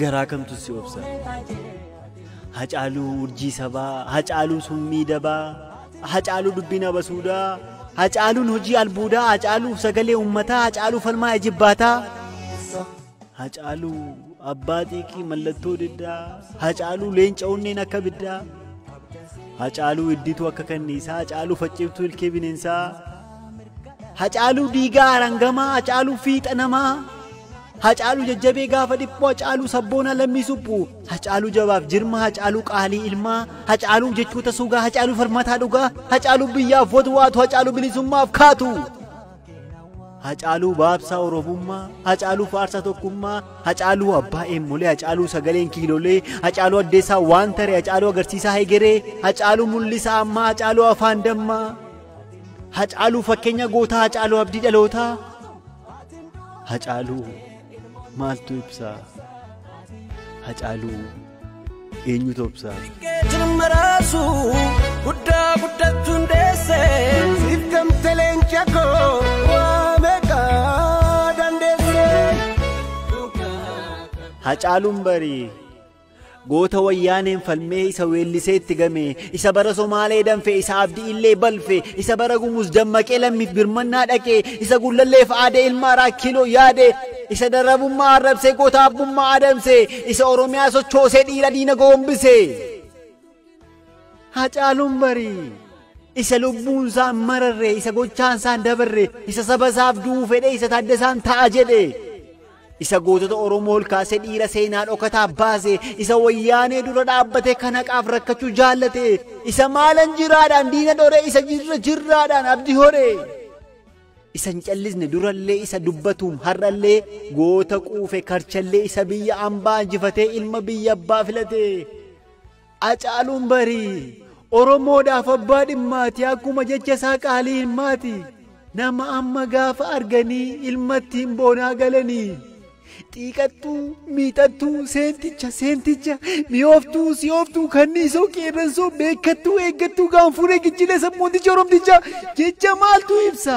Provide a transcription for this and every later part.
garaa kamtu si obsa hacaaluu urjii sabaa hacaaluu summii dabaa hacaaluu dubbiin abasuudaa hacaaluun hojii albuudaa hacaaluu sagalee ummataa hacaaluu falmaa ijibbaataa hacaaluu abbaa xiiqii mallattoo diddaa hacaaluu leenca onneen akka biddaa hacaaluu iddituu akka kanniisaa hacaaluu facciftuu ilkee bineensaa Hacaaluu diigaa arangamaa, hacaaluu fiixa namaa, hacaaluu jajjabee gaafa dhiphoo, hacaaluu sabboonaa lammii suphu, hacaaluu jabaaf jirma, hacaaluu qaalii ilmaa, hacaaluu jechoota sugaa, hacaaluu farmataa dhugaa, hacaaluu biyyaaf watwaatu, hacaaluu bilisummaaf kaatu. Hacaaluu baabsaa Oromummaa, Hacaaluu faarsaa tokkummaa, Hacaaluu abbaa eemmolee, Hacaaluu sagaleen kiilolee, Hacaaluu addeessaa waan taree, Hacaaluu agarsiisaa hegeree, Hacaaluu mul'isaa ammaa, Hacaaluu afaan dammaa. Hacaaluu fakkeenya gootaa Hacaaluu abdii dhalootaa Hacaaluu maaltu ibsaa Hacaaluu eenyutu obsaa Keetiin maraasu guddaa guddachuun deesse. Siif gamte leenca koo waa meeqa dandeesse. Hacaaluun barii Goota wayyaaneen falmee isa weellisee itti game, isa bara Somaalee danfe, isa abdi'illee balfe, isa bara gumuz dammaqee lammiif birmannaa dhaqe, isa gullalleef aadee ilma araa kiloo yaade, isa darabummaa arrabsee goota abbummaa adamse, isa Oromiyaa sochoosee dhiira diina goombise. Hacaaluun barii isa lubbuun isaan mararre isa gochaan isaan dabarre isa saba isaaf du'uu fedhe isa taaddasaan ta'a jedhe isa gootota oromoo ol kaasee dhiira seenaa dhokataa baase isa wayyaanee dura dhaabbatee kan haqaaf rakkachuu jaallate isa maalan jiraadhaan diina dhore isa jirra jirraadhaan abdi hore isa hin callisne durallee isa dubbatuum har'allee goota quufe karchallee isa biyya ambaa injifatee ilma biyya abbaa filate. Acaaluun barii Oromoodhaaf abbaa dhimmaati akkuma jecha isaa qaalii ilmaati. Nama amma gaafa arganii ilma ittiin boonaa galanii. Xiiqattuu, miixattuu, seenticha, seenticha, mi'ooftuu, si'ooftuu, kanniisoo, qeerransoo, beekattuu, eeggattuu, gaanfuree, gichilee, sabboonticha, oromticha jecha maaltu ibsa?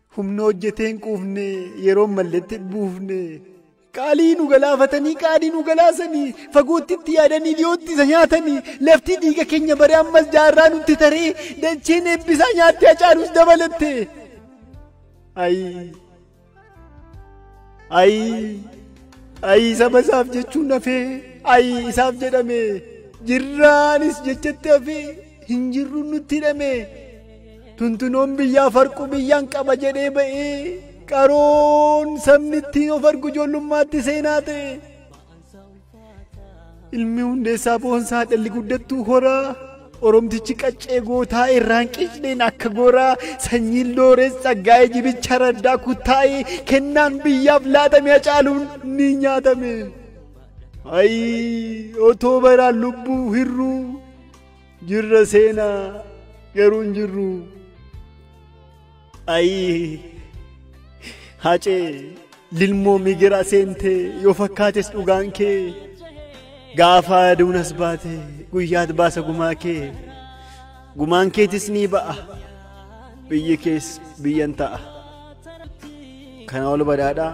Humna hojjetee hin quufne yeroo malletti buufne. Qaalii nu galaafatanii qaadii nu galaasanii fagootti itti yaadanii dhiyootti isa nyaatanii lafti dhiiga keenya baree ammas jaarraa nutti taree dacheen eebbisaa nyaattee hacaalus dabalatte. Ayi ayi ayi saba isaaf jechuun hafee ayi isaaf jedhame jirraanis jechatti hafee. hin jirru nutti hidhame tuntunoon biyyaa farquu biyyaan qaba jedhee ba'ee qaroon sabni ittiin of argu ijoollummaatti seenaa ta'e ilmi hundeessaa boonsaa dhalli guddattuu horaa oromtichi qaccee gootaa irraan qicneen akka goraa sanyiin loorees tsaggaa'ee jibicha raddaa kuttaa'ee kennaan biyyaaf laatame hacaaluun ni nyaatame. Ayi otoo baraan lubbuu hirruu Jirra seenaa garuu hin jirru. Ayii hacee lilmoo migira seentee yoo fakkaates dhugaan kee gaafa aduun as baate guyyaat baasa gumaa kee gumaan keetis ni ba'a biyyi kees biyyan ta'a. Kana ol badhaadhaa.